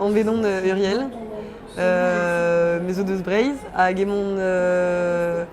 Anvet on euh, Uriel. Euh, mes deus Breizh hag emon euh,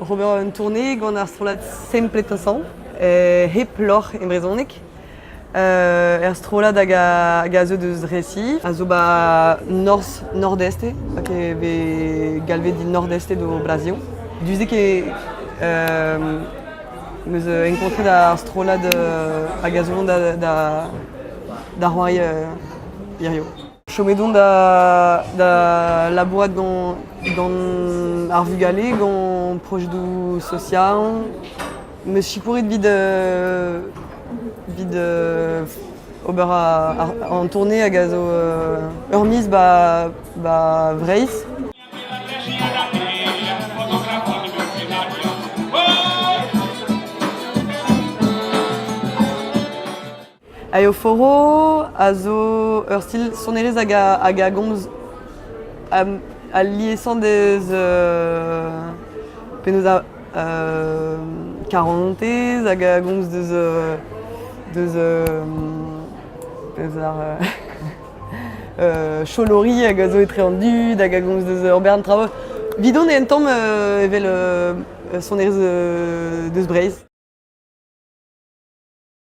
ober un tournée gant ar strollad Sempletasan euh, hep lorc'h e brezhoneg. Euh, er strollad hag a, hag a zeu deus Resi, a zo ba norz, nordeste, hag e vez galvet dit nordeste do Brazil. Duzek e euh, meus enkontret ar strollad euh, hag a zo da, da, da c'hoari euh, Hirio. Chomet on da labourat gant ar vugale, gant projedoù sozial. M'eus sikouret evit ober an tournée hag a zo ur miz 'ba Vreizh. Aioforo a zo ur stil sonerezh hag a gomz al liesañ deus penaos karantez hag a gomz deus ar cholori hag a zo etre an dud hag a gomz deus ur bern traoù. Evidon eo un tamm evel sonerezh deus Breizh.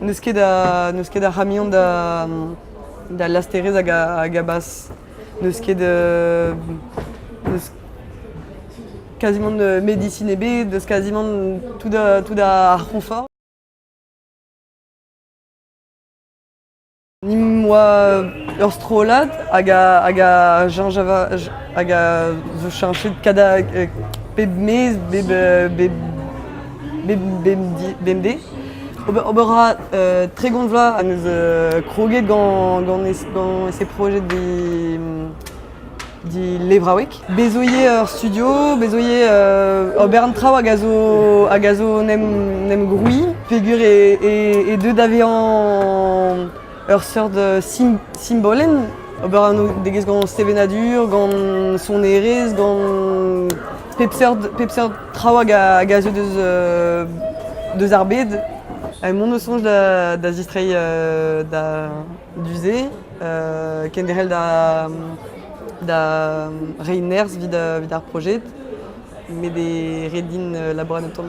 N'eus ket a, n'eus ket a ramion da, da lasterez hag a, hag a bas. N'eus ket de, n'eus quasiment de médecine ebet, n'eus quasiment tout, tout à confort. Nimp oa ur strollad hag a zo cheñchet pep miz bemdez. Ober a ra tregont vloaz ha 'neus kroget gant ese projed Levraoueg. Bez 'zo ivez ur studio, bez 'zo ivez ober an traoù hag a zo hag a zo 'n em grouiñ peger e deu da vezañ ur seurt simbolenn. Ober anv-degez gant sevenadur, gant sonerezh, gant pep seurt pep seurt traoù hag a zeu deus ar bed. Ha mont o soñj da zistreiñ da... Du-se, kenderc'hel da, da reiñ nerzh evit ar projet met e ret din labourat un tamm.